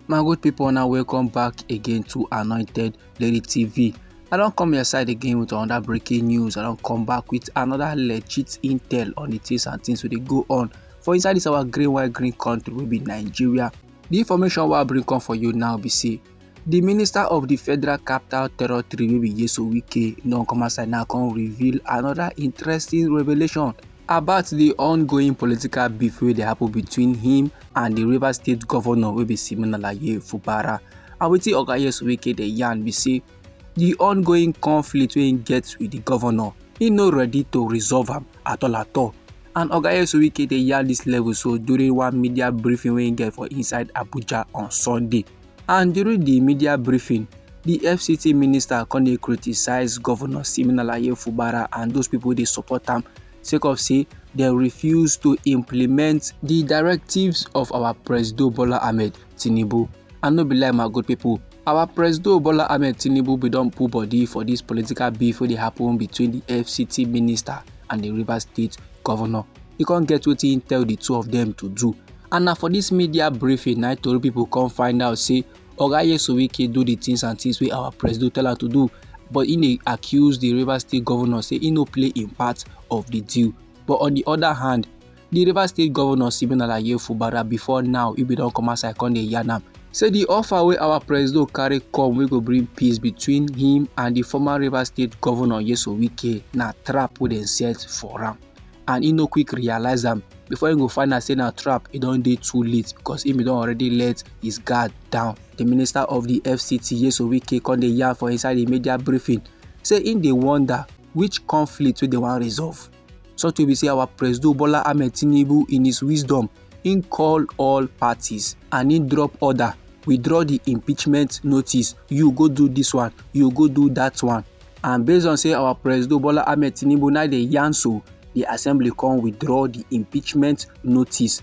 my good people now welcome back again to anointed lady tv i don't come your side again with another breaking news i don't come back with another legit intel on the things and things wey dey go on for inside this our green white green country will be nigeria the information wey i bring come for you now be see. di minister of di federal capital territory wey be yeso wike don come outside now come reveal another interesting revelation about di ongoing political beef wey dey happen between him and di rivers state governor wey be siminalayi fubara and wetin oga yeso wike dey yarn be say di ongoing conflict wey im get with di governor he no ready to resolve am at all at all and oga yeso wike dey yarn dis level so during one media briefing wey im get for inside abuja on sunday and during di media briefing di fct minister come dey criticise govnor siminalayi fubara and those pipo dey support am sake of say dem refuse to implement di directives of our presido bola ahmed tinubu and no be lie my good pipo our presido bola ahmed tinubu bin don put body for dis political beef wey dey happen between di fct minister and di rivers state govnor e come get wetin im tell the two of them to do and na for this media briefing na tori people come find out say oga yesowike do the things and things wey our president tell am to do but he dey accuse the rivers state governor say he no play im part of the deal but on the other hand the rivers state governor siminala yefubara before now he bin don come outside come dey yarn am say the offer wey our president carry come wey go bring peace between him and the former rivers state governor yeso wike na trap wey dem set for am and he no quick realize am before he go find out say na trap e don dey too late because he bin don already let his guard down. The minister of the fct yeso wike come dey yarn for inside the media briefing say he dey wonder which conflict wey dem wan resolve so to be say our presido bola ahmed tinubu in his wisdom he call all parties and he drop order withdraw the impeachment notice you go do this one you go do that one and based on say our president bola ahmed tinubu now dey yarn so the assembly come withdraw the impeachment notice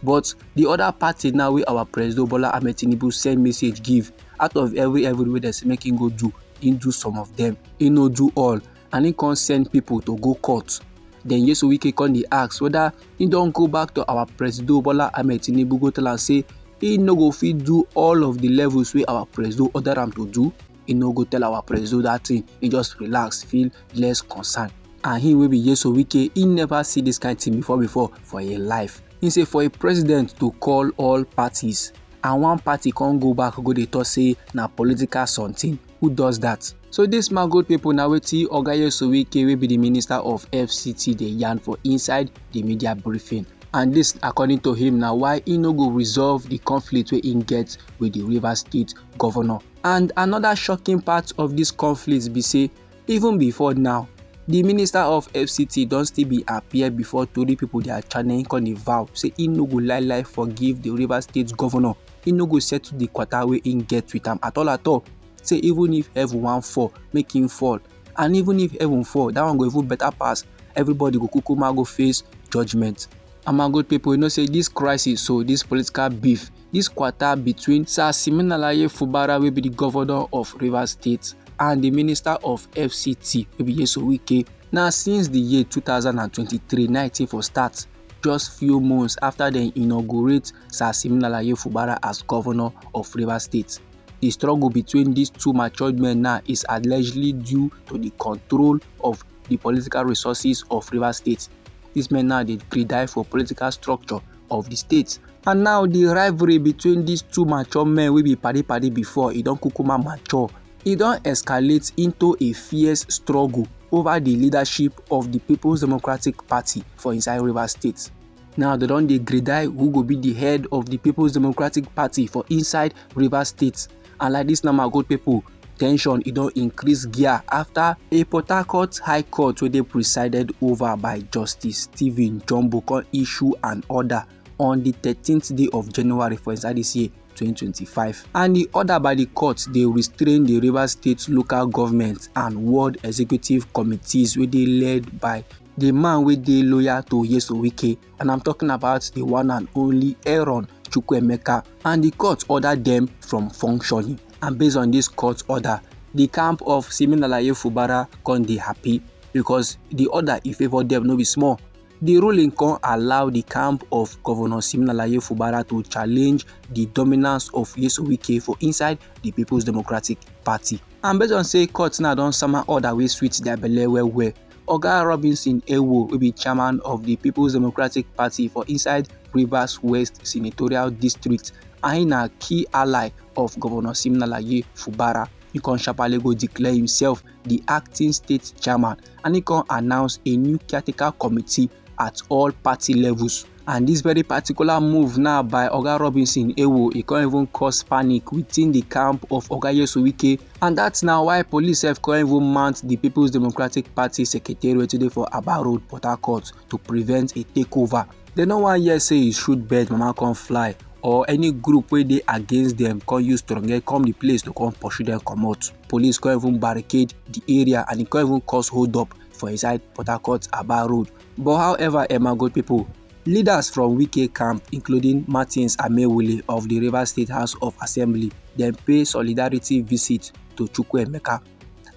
but the other party now wey our president bola ahmed tinubu send message give out of every every wey dem say make him go do him do some of them he no do all and he come send people to go court then yesu wike come dey ask whether he don go back to our president bola ahmed tinubu go tell am say he no go fit do all of the levels wey our president order am to do he no go tell our president that thing he just relax feel less concern and he wey be yeso wike he never see this kind thing before before for him life he say for a president to call all parties and one party can't go back go dey talk say na political something who does that so dis mango pipo na wetin oga yesowike wey be di minister of fct dey yarn for inside di media briefing and dis according to him na why e no go resolve di conflict wey im get wit di rivers state govnor And another shocking part of this conflict be say even before now, the minister of fct don still be appear before tori pipo dia channel im come dey vow say he no go lie lie forgive the rivers state governor He no go settle the kwata wey im get with am at all at all say even if heaven wan fall make him fall and even if heaven fall that one go even better pass everybody go kukuma go face judgement and my good people you know say this crisis so this political beef This quarter between Sir Siminalayi Fubara wey be the governor of Rivers State and the minister of FCT wey be Yeso Wike na since the year 2023 na e for start just few months after dem inaugurate Sir Siminalayi Fubara as governor of Rivers State. The struggle between these two matured men now is allegedly due to the control of the political resources of Rivers State. These men now dey die for political structure of di state and now di rivalry between dis two mature men wey be padi padi before e don kukuma mature e don escalate into a fierce struggle over di leadership of di peoples democratic party for inside rivers state now dem don dey grade who go be di head of di peoples democratic party for inside rivers state And like dis now my good people, tension e don increase gear after a port harcourt high court wey dey presided over by justice stephen jumbo come issue an order on di thirteenth day of january for inside dis year 2025 and di order by di court dey restrain di rivers state local government and ward executive committees wey dey led by di man wey dey loyal to yeso wike and I'm talking about the one and only Aaron Chukwemeka, and the court ordered them from functioning. And based on this court order, the camp of Siminalaye Fubara can be happy because the order in favor them no be small. The ruling can allow the camp of Governor Siminalaye Fubara to challenge the dominance of Yesu Wike for inside the People's Democratic Party. And based on say court now don sama order wey sweet their belle well well, Oga Robinson Ewo wey be chairman of di Peoples Democratic Party for inside Rivers West senatorial district and na key ally of Govnor Siminalayi Fubara, e kon sharparly go declare himself di acting state chairman and e kon announce a new caretaker committee at all party levels. And this very particular move now by Oga Robinson Ewo, it can even cause panic within the camp of Oga Yesuwike. And that's now why police have can even mount the People's Democratic Party secretariat today for Aba Road, Port Harcourt to prevent a takeover. They no one here say you should bet mama come fly or any group wey dey against dem come use stronghead come the place to come pursue dem comot police come even barricade the area and e come even cause hold up for inside Port Harcourt Aba Road. But however, Emma good people, leaders from Wike camp, including Martins Amewule of the River State House of Assembly, then pay solidarity visit to Chukwuemeka.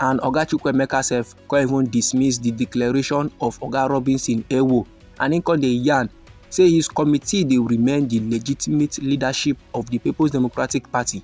And Oga Chukwuemeka sef come even dismiss the declaration of Oga Robinson Ewo and im come dey yarn say his committee dey remain the legitimate leadership of the People's Democratic Party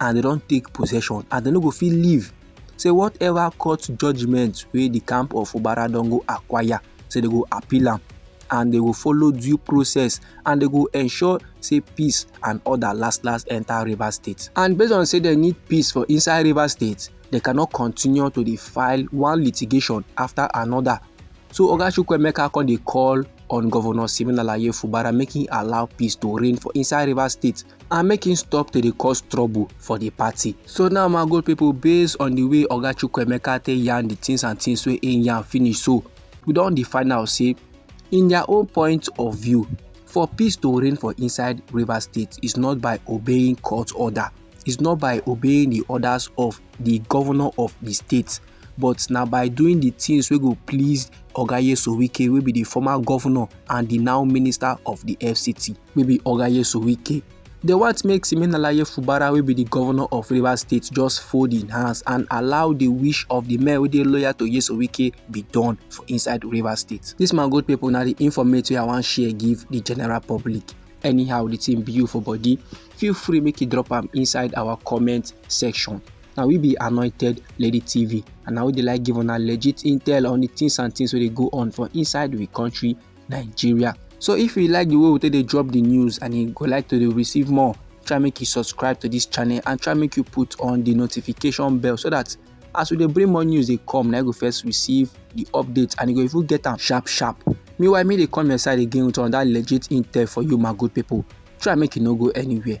and dem don take possession and dem no go fit leave say whatever court judgement wey the camp of fubara don go acquire say dem go appeal am and dem go follow due process and dem go ensure say peace and order last last enter rivers state and based on say dem need peace for inside rivers state they cannot continue to dey file one litigation after another so oga chukwuemeka come dey call on governor siminalayi fubara make him allow peace to reign for inside rivers state and make him stop to dey cause trouble for the party. So now my good people, based on the way Oga Chukwuemeka take yarn the things and things wey him yarn finish so, we don dey find out say in their own point of view, for peace to reign for inside River State is not by obeying court order, is not by obeying the orders of the governor of the state, but na by doing the things wey go please Oga Yesowike wey be the former governor and the now minister of the FCT. wey be oga nyesom wike dey want make siminalayi fubara wey be di govnor of rivers state just fold im hands and allow di wish of di men wey dey loyal to nyesom wike be done for inside rivers state dis man good pipo na di informate wey i wan share give di general public anyhow di tin be you for body feel free make you drop am inside our comment section na we be anointed lady tv and na we dey like give una legit intel on di tins and tins wey dey go on for inside we country nigeria so if you like the way we take dey drop the news and you go like to dey receive more try make you subscribe to this channel and try make you put on the notification bell so that as we dey bring more news dey come na you go first receive the update and you go even get am sharp sharp meanwhile me dey come your side again with another legit intel for you my good people try make you no go anywhere